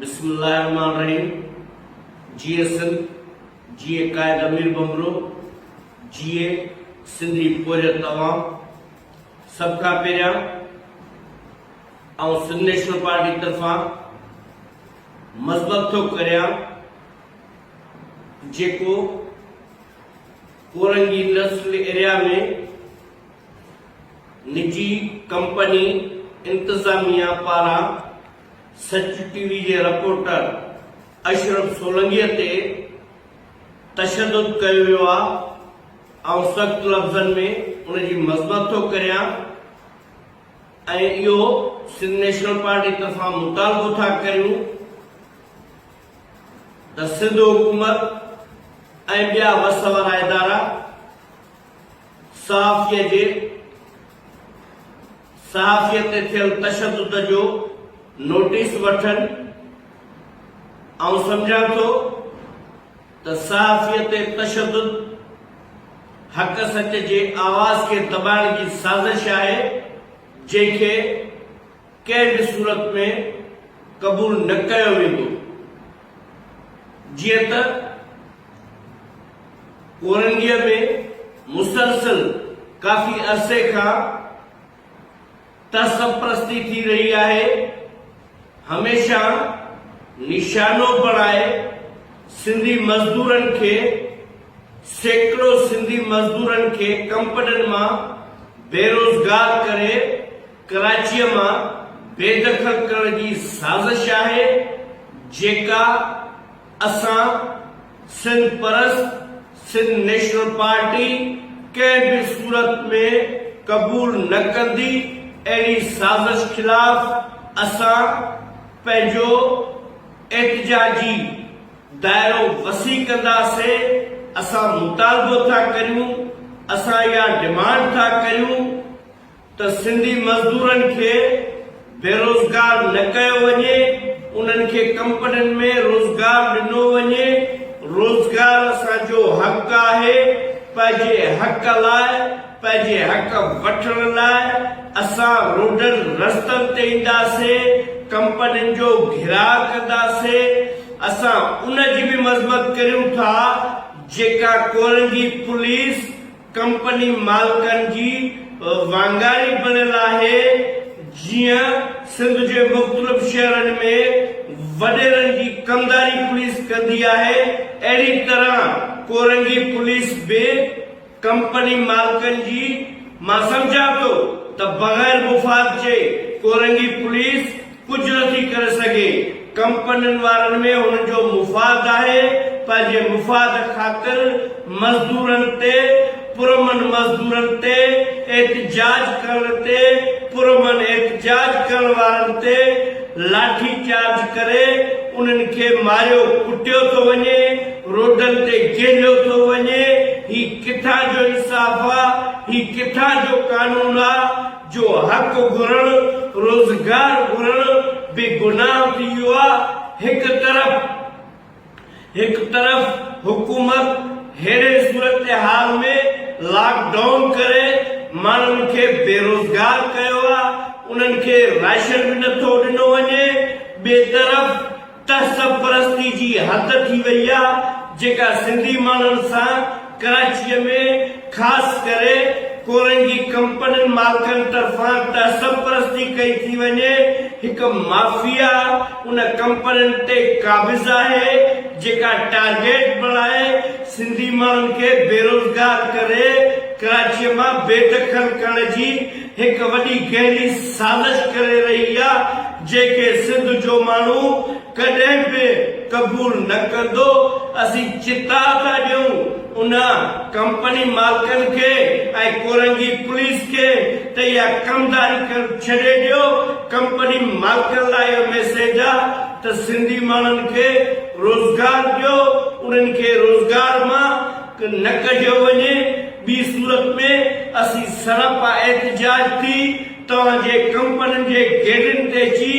بسم الله الرحمن الرحيم جيئي سنڌ جيئي قائد امير بمبرو جيئي سنڌي پورهيت توهان سڀ کان پهريان آئون سنڌ نيشنل پارٽي طرفان مذمت ٿو ڪريان جيڪو ڪورنگي انڊسٽريل ايريا ۾ نجي ڪمپني انتظاميا پاران سچ ٽي وي جي رپورٽر اشرف سولنگي تي تشدد ڪيو ويو آ آئون سخت لفظن ۾ ان جي مذمت ٿو ڪريان ۽ اهو سنڌ نيشنل پارٽي طرفان مطالبو ٿا ڪريون ته سنڌ حڪومت ۽ ٻيا وس وارا ادارا صحافيء جي صحافيء تي ٿيل تشدد جو نوٽيس وٺن، آئون سمجهان ٿو ته صحافيء تي تشدد حق سچ جي آواز کي دٻائڻ جي سازش آهي، جنهن کي ڪنهن به صورت ۾ قبول نه ڪيو ويندو جيئن ته ڪورنگيء ۾ مسلسل ڪافي عرصي کان تعصب پرستي ٿي رهي آهي هميشه نشانو بڻائي سنڌي مزدورن کي سيڪڙو سنڌي مزدورن کي ڪمپنين مان بيروزگار ڪري ڪراچيء مان بي دخل ڪرڻ جي سازش آهي جيڪا اسان سنڌ پرست سنڌ نيشنل پارٽي ڪنهن به صورت ۾ قبول نه ڪندي اهڙي سازش خلاف اسان پنهنجو احتجاجي دائرو وسيع ڪنداسي اسان مطالبو ٿا ڪريون اسان اها ڊمانڊ ٿا ڪريون ته سنڌي مزدورن کي بيروزگار نه ڪيو وڃي، انهن کي ڪمپنين ۾ روزگار ڏنو وڃي، روزگار اسان جو حق آهي، پنهنجي حق لاء، پنهنجي حق وٺڻ لاء اسان روڊن رستن تي اينداسين، ڪمپنين جو گهيراء ڪنداسين، اسان ان جي به مذمت ڪريون ٿا جيڪا ڪورنگي پوليس ڪمپني مالڪن جي وانگاري بڻيل آهي، جيئن سنڌ جي مختلف شهرن ۾ وڏيرن جي ڪمداري پوليس ڪندي آهي، اهڙي طرح ڪورنگي پوليس به ڪمپني مالڪن جي مان سمجهان ٿو ته بغير مفاد جي ڪورنگي پوليس ڪجهه نٿي ڪري سگهي، ڪمپنين وارن ۾ هن جو مفاد آهي، پنهنجي مفاد خاطر مزدورن تي پرامن مزدورن تي احتجاج ڪرڻ تي پرامن احتجاج ڪرڻ وارن تي لاٺي چارج ڪري انهن کي ماريو ڪٽيو ٿو وڃي، روڊن تي ڪيهليو ٿو وڃي، هي ڪٿان جو انصاف آ، هي ڪٿان جو قانون آ. جو حق گهرڻ، روزگار گهرڻ به گناهه ٿي ويو آهي، هڪ طرف هڪ طرف حڪومت ههڙي صورتحال ۾ لاڪ ڊائون ڪري ماڻهن کي بيروزگار ڪيو آهي، انهن کي راشن به نٿو ڏنو وڃي، ٻئي طرف. تهذب پرستي جي حد ٿي وئي آ جيڪا سنڌي ماڻهن سان ڪراچيء ۾ خاص ڪري ڪورنگي ڪمپنين مالڪن طرفان تهذب پرستي ڪئي ٿي وڃي هڪ مافيا ان ڪمپنين تي قابض آهي جيڪا ٽارگيٽ بڻائي سنڌي ماڻهن کي بيروزگار ڪري ڪراچيء مان بي دخل ڪرڻ جي هڪ وڏي گهري سازش ڪري رهي آ جيڪي سنڌ جو ماڻهو ڪڏهن به قبول نه ڪندو اسين چتاء ٿا ڏيون ان ڪمپني مالڪن کي ۽ ڪورنگي پوليس کي ته اها ڪمداري ڪن ڇڏي ڏيو ڪمپني مالڪن لاء اهو ميسيج آ ته سنڌي ماڻهن کي روزگار ڏيو انهن کي روزگار مان نه ڪڍيو وڃي، ٻي صورت ۾ اسين سراپا احتجاج ٿي توهان جي ڪمپنين جي گيٽن تي اچي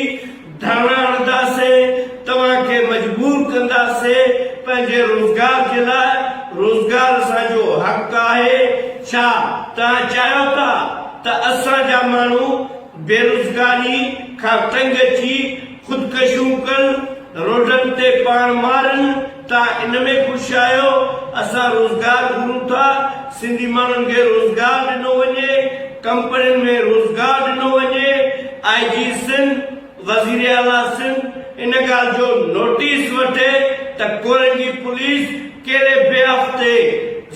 ڌرڻا هڻنداسين، توهان کي مجبور ڪنداسين پنهنجي روزگار جي لاء، روزگار اسان جو حق آهي، ڇا توهان چاهيو ٿا ته اسان جا ماڻهو بيروزگاري کان تنگ اچي خودڪشيون ڪن، روڊن تي پاڻ مارن. ته ان ۾ خوش آهيو، اسان روزگار گهرون ٿا، سنڌي ماڻهن کي روزگار ڏنو وڃي، ڪمپنين ۾ روزگار ڏنو وڃي، آء جي سنڌ، وزيراعليٰ سنڌ ان ڳالهه جو نوٽيس وٺي ته ڪورين جي پوليس ڪهڙي بي حق تي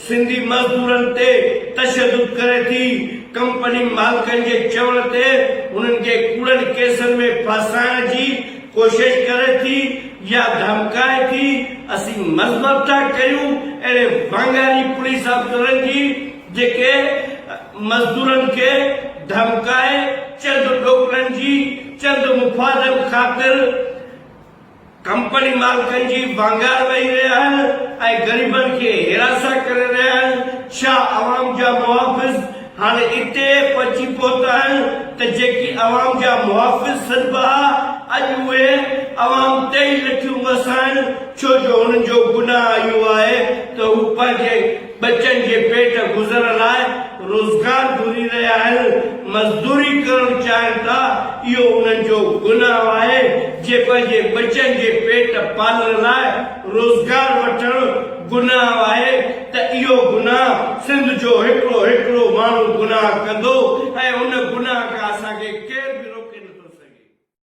سنڌي مزدورن تي تشدد ڪري ٿي، ڪمپني مالڪن جي چوڻ تي هنن کي ڪوڙن ڪيسن ۾ ڦاسائڻ جي ڪوشش ڪري ٿي يا ڌمڪائي ٿي اسين مذمت ٿا ڪيون اهڙي وانگياري پوليس آفيسرن جي جيڪي مزدورن کي ڌمڪائي چند ڏوڪڙن جي چند مفادن خاطر ڪمپني مالڪن جي وانگار ويهي رهيا آهن ۽ غريبن کي هيراسان ڪري رهيا آهن ڇا عوام جا محافظ هاڻي اتي پهچي پهتا آهن ته جيڪي عوام جا محافظ سڏبا ها، اڄ اهي عوام تي ئي لٺيون وسائن، ڇو جو هنن جو گناهه اهو آهي ته هو پنهنجي ٻچن جي پيٽ گذر لاء روزگار گهري رهيا آهن، مزدوري ڪرڻ چاهين ٿا، اهو انهن جو گناهه آهي، جي پنهنجي ٻچن جي پيٽ پالڻ لاء روزگار وٺڻ گناهه آهي، ته اهو گناهه سنڌ جو هڪڙو هڪڙو ماڻهو گناهه ڪندو ۽ ان گناهه کان اسان کي ڪير به روڪي نٿو سگهي.